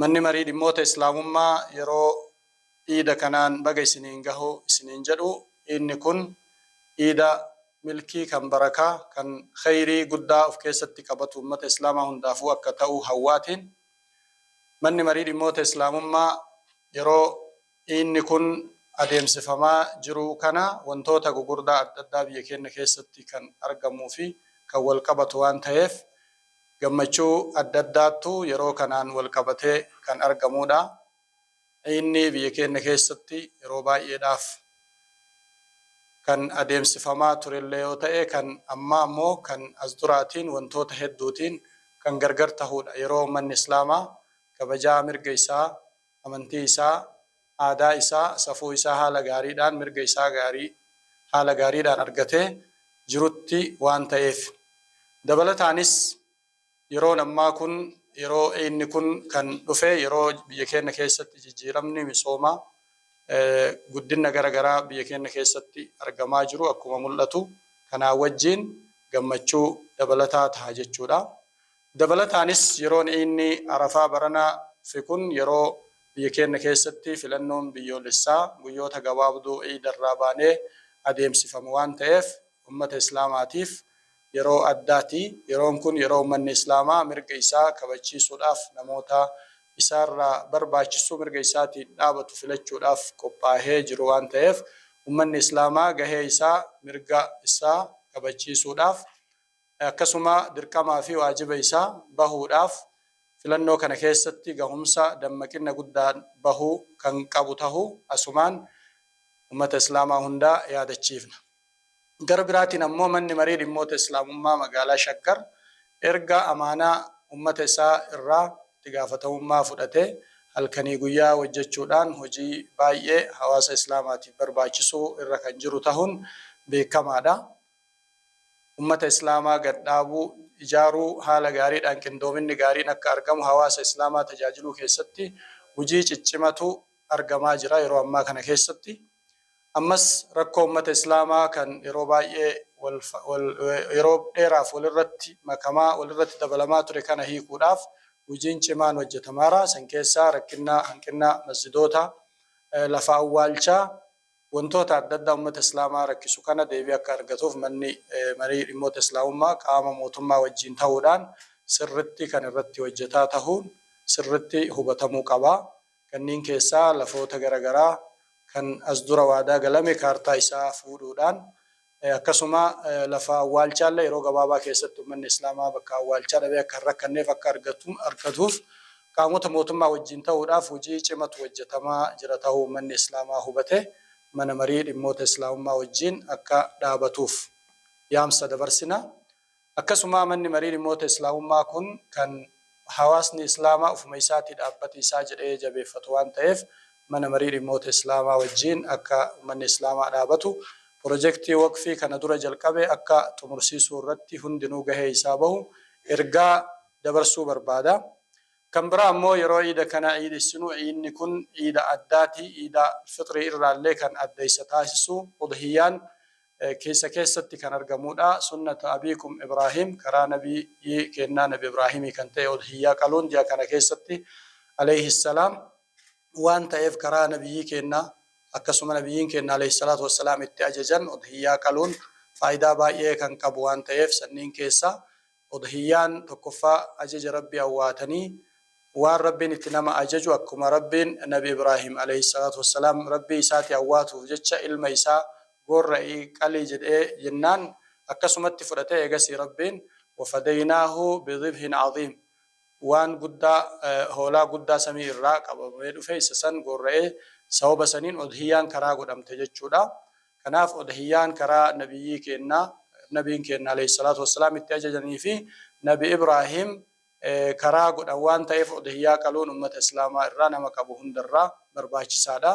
Manni Marii Dhimmoota Islaamummaa yeroo Iida kanaan baga isiniin gahu isiniin jedhu. Iidni kun Iida milkii, kan barakaa, kan kheyrii guddaa of keessatti qabatu ummata Islaamaa hundaafuu akka ta'u hawwaatiin Manni Marii Dhimmoota Islaamummaa yeroo Dhiinni kun adeemsifamaa jiruu kana wantoota gugurdaa adda addaa biyya keenna keessatti kan argamuu fi kan wal qabatu waan taheef gammachuu adda addaattu yeroo kanaan wal qabatee kan argamuu dha. Dhiinni biyya keenna keessatti yeroo baay'eedhaaf kan adeemsifamaa turellee yoo ta'e kan ammaa immoo kan as duraatiin wantoota hedduutiin kan gargar tahuu dha. Yeroo ummanni Islaamaa kabajaa mirga isaa amantii isaa, aadaa isaa, safuu isaa haala gaariidhaan, mirga isaa gaarii haala gaariidhaan argatee jirutti waan ta'eef. Dabalataanis yeroon ammaa kun yeroo inni kun kan dhufe yeroo biyya keenna keessatti jijjiiramni misooma guddinna gara garaa biyya keenna keessatti argamaa jiru akkuma mul'atu kanaa wajjiin gammachuu dabalataa taha jechuudha. Dabalataanis yeroon Iidni Arafaa baranaa fi kun yeroo biyya keenna keessatti filannoon biyyoolessaa guyyoota gabaabduu Iidarraa baanee adeemsifamu waan ta'eef ummata Islaamaatiif yeroo addaati. Yeroon kun yeroo ummanni Islaamaa mirga isaa kabachiisuudhaaf namoota isaarraa barbaachisuu mirga isaatiin dhaabatu filachuudhaaf qophaahee jiru waan ta'eef ummanni Islaamaa gahee isaa mirga isaa kabachiisuudhaaf akkasuma dirqamaa fi waajiba isaa bahuudhaaf filannoo kana keessatti gahumsa dammaqinna guddaan bahuu kan qabu tahuu asumaan Ummata Islaamaa hundaa yaadachiifna. Gara biraatiin ammoo Manni Marii Dhimmoota Islaamummaa Magaalaa Shaggar erga amaanaa Ummata isaa irraa itti gaafatamummaa fudhatee halkanii guyyaa wojjechuudhaan hojii baay'ee hawaasa Islaamaatiif barbaachisuu irra kan jiru tahuun beekamaadha. ummata Islaamaa gad dhaabuu, ijaaruu, haala gaariidhaan qindoominni gaariin akka argamu hawaasa Islaamaa tajaajiluu keessatti hujii ciccimatu argamaa jira yeroo ammaa kana keessatti. Ammas rakkoo ummata Islaamaa kan yeroo baay'ee yeroo dheeraaf walirratti makamaa, walirratti dabalamaa ture kana hiikuudhaaf hujiin cimaan hojjatamaara. San keessaa rakkinna hanqinna masjidoota, lafa awwaalchaa, wantoota adda addaa ummata Islaamaa rakkisu kana deebii akka argatuuf Manni Marii Dhimmoota Islaamummaa qaama mootummaa wajjiin tahuudhaan sirritti kan irratti hojjataa tahuun sirritti hubatamuu qaba. Kanniin keessaa lafoota gara garaa kan as dura waadaa galame kaartaa isaa fuudhuudhaan Akkasuma lafa awwaalchaallee yeroo gabaabaa keessatti ummanni Islaamaa bakka awwaalchaa dhabee akka hin rakkanneef akka argatuuf qaamota mootummaa wajjiin tahuudhaaf hujii cimatu hojjatamaa jira tahuu ummanni Islaamaa hubatee Mana Marii Dhimmoota Islaamummaa wajjiin akka dhaabatuuf yaamsa dabarsina. Akkasumaa Manni Marii Dhimmoota Islaamummaa kun kan hawaasni Islaamaa ofuma isaatii dhaabbati isaa jedhee jabeeffatu waan ta'eef Mana Marii Dhimmoota Islaamaa wajjiin akka Ummanni Islaamaa dhaabatu Pirojektii Waqfii kana dura jalqabe akka xumursiisuu irratti hundinuu gahee isaa bahu ergaa dabarsuu barbaada. Kan biraa ammoo yeroo Iida kana Iidessinu Iidni kun Iida addaati, Iida Fixrii irraallee kan adda isa taasisu Udhiyyaan keessa keessatti kan argamuudha. Sunnata Abiikum Ibraahiim, karaa Nabiyyii keennaa Nabi Ibraahimii kan ta'e Udhiyyaa qaluun ji'a kana keessatti, Aleyhi salaam, waan ta'eef karaa Nabiyyii keennaa akkasuma Nabiyyiin keenna Aleyhi salaatu wa salaam itti ajajan Udhiyyaa qaluun faayidaa baay'ee kan qabu waan ta'eef sanniin keessaa Udhiyyaan tokkoffaa ajaja Rabbi awwaatanii waan Rabbiin itti nama ajaju akkuma Rabbiin nabi Ibraahim, aleyh salaatu wassalaam, Rabbii isaati awwaatuuf jecha ilma isaa goorra'i qali jedhee jennaan akkasumatti fudhate eegasii Rabbiin wafadaynaahu bidhibhin adhiim waan guddaa hoolaa guddaa samii irraa qabamee dhufe isa san goorra'ee sababa saniin udhiyyaan karaa godhamte jechuudha Kanaaf Udhiyyaan karaa Nabiyyii keenna, Nabiin keenna aleyh salaatu wa salaam itti ajajanii fi Nabi Ibraahiim karaa godhan waan ta'eef Udhiyyaa qaluun ummata Islaamaa irraa nama qabu hunda irraa barbaachisaa dha.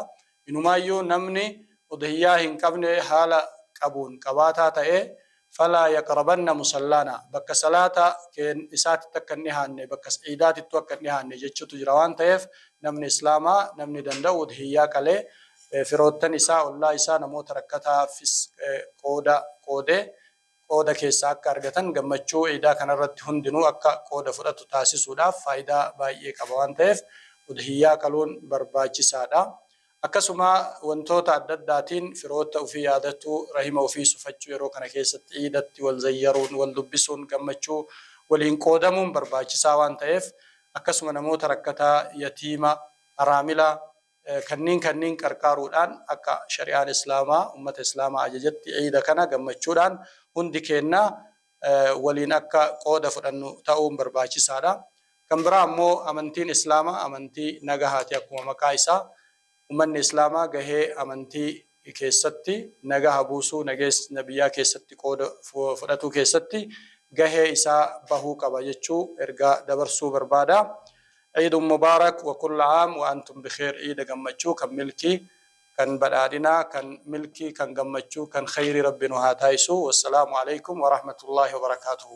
Inumaayyuu namni Udhiyyaa hin qabne haala qabuun qabaataa ta'ee Falaa yaqrabanna musallaana, bakka salaata keen isaatitti akka hin dhihaanne, bakka iidaatittuu akka hin dhihaanne jechuutu jira waan taheef namni islaamaa namni danda'u udhiyyaa qalee firoottan isaa, ollaa isaa, namoota rakkataaffis qooda qoodee qooda keessaa akka argatan gammachuu iidaa kanarratti hundinuu akka qooda fudhatu taasisuudhaaf faayidaa baay'ee qaba waan taheef udhiyyaa qaluun barbaachisaadha. Akkasuma wantoota adda addaatiin firoota ufii yaadatuu, rahima ufii sufachuu yeroo kana keessatti iidatti wal zayyaruun, wal dubbisuun, gammachuu waliin qoodamuun barbaachisaa waan ta'eef akkasuma namoota rakkataa, yatiima, haraamila kanniin kanniin qarqaaruudhaan akka shari'aan Islaamaa, ummata Islaamaa ajajetti iida kana gammachuudhaan hundi keenna waliin akka qooda fudhannu ta'uun barbaachisaadha. Kan biraa ammoo amantiin Islaamaa amantii nagahaati akkuma maqaa isaa ummanni Islaamaa gahee amantii keessatti nagaha buusuu, nageessna biyyaa keessatti qooda fudhatuu keessatti gahee isaa bahuu qaba jechuu ergaa dabarsuu barbaada. Iidun Mubaarak wa kulla aam wa antum bikheer Iida gammachuu kan milkii kan badhaadhinaa kan milkii kan gammachuu kan kheeyrii rabbi nu haa taasisuu wassalaamu aleykum warahmatullaahi wabarakaatuhu.